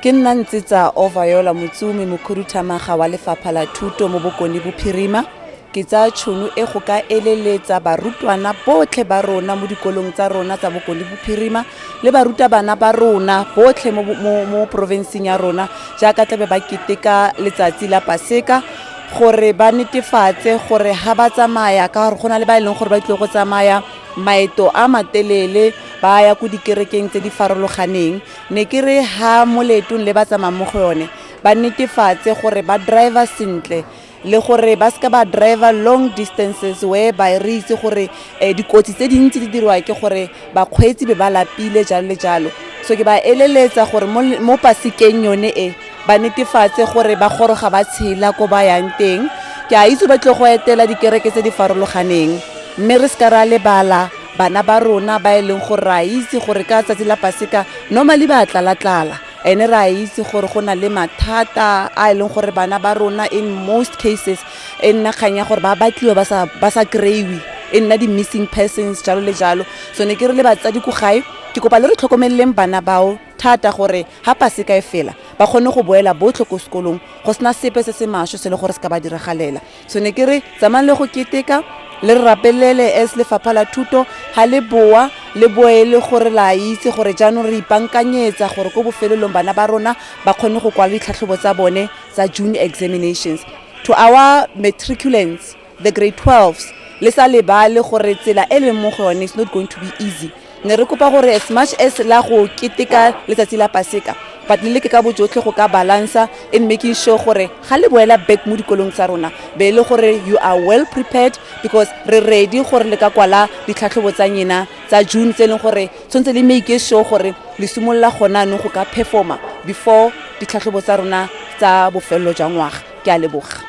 ke nna ntse tsa overyola motsumi mokhuduthamaga wa lefapha la thuto mo bokone bophirima ke tsaya tšhono e go ka eleletsa barutwana botlhe ba rona mo dikolong tsa rona tsa bokone bophirima le barutabana ba rona botlhe mo, mo, mo porofenseng ya rona jaaka tlabe ba keteka letsatsi la paseka gore ba netefatse gore ga ba tsamaya ka gore go na le ba e leng gore ba tlile go tsamaya maeto a matelele ba ya ko dikerekeng tse di farologaneng ne ke re ha mo leetong le ba tsamaya mo go yone ba netefatse gore ba driver sentle le gore ba seka ba driver long distances whereby re itse gore um dikotsi tse dintsi di dirwa ke gore bakgweetsi be ba lapile jalo le jalo so ke ba eleletsa gore mo pasekeng yone e ba netefatse gore ba goroga ba tshela ko ba yang teng ke a itse ba tle go etela dikereke tse di farologaneng mme re seka ra lebala bana ba rona ba e leng gore re a itse gore ka tsatsi la paseka normally ba tlala-tlala ene re a itse gore go na le mathata a e leng gore bana ba rona in most cases e nna kgang ya gore ba batliwa ba sa kry-iwe e nna di-missing persons jalo le jalo so ne ke re le batsadi ko gae ke kopa le re tlhokomeleleng bana bao thata gore ha paseka e fela ba kgone go boela botlhe ko sekolong go sena sepe se se masho se le gore se ka ba diragalela so ne ke re tsamayng le go keteka le re rapelele as lefapha la thuto ga le boa le boe le gore la itse gore jaanong re ipankanyetsa gore ko bofelelong bana ba rona ba kgone go kwala ditlhatlhobo tsa bone tsa june examinations to our matriculants the grade 12s le sa lebale gore tsela e leng mo go yone is not going to be easy ne re kopa gore as much as la go keteka letsatsi la paseka but le leke ka bojotlhe go ka balancer in making sure gore ga le boela back mo dikolong tsa rona be e le gore you are well prepared because re ready gore le ka kwala ditlhatlhobo tsa nyena tsa june tse e leng gore tshwanetse le make sure gore le simolola gona anong go ka performa before ditlhatlhobo tsa rona tsa bofelelo jwa ngwaga ke a leboga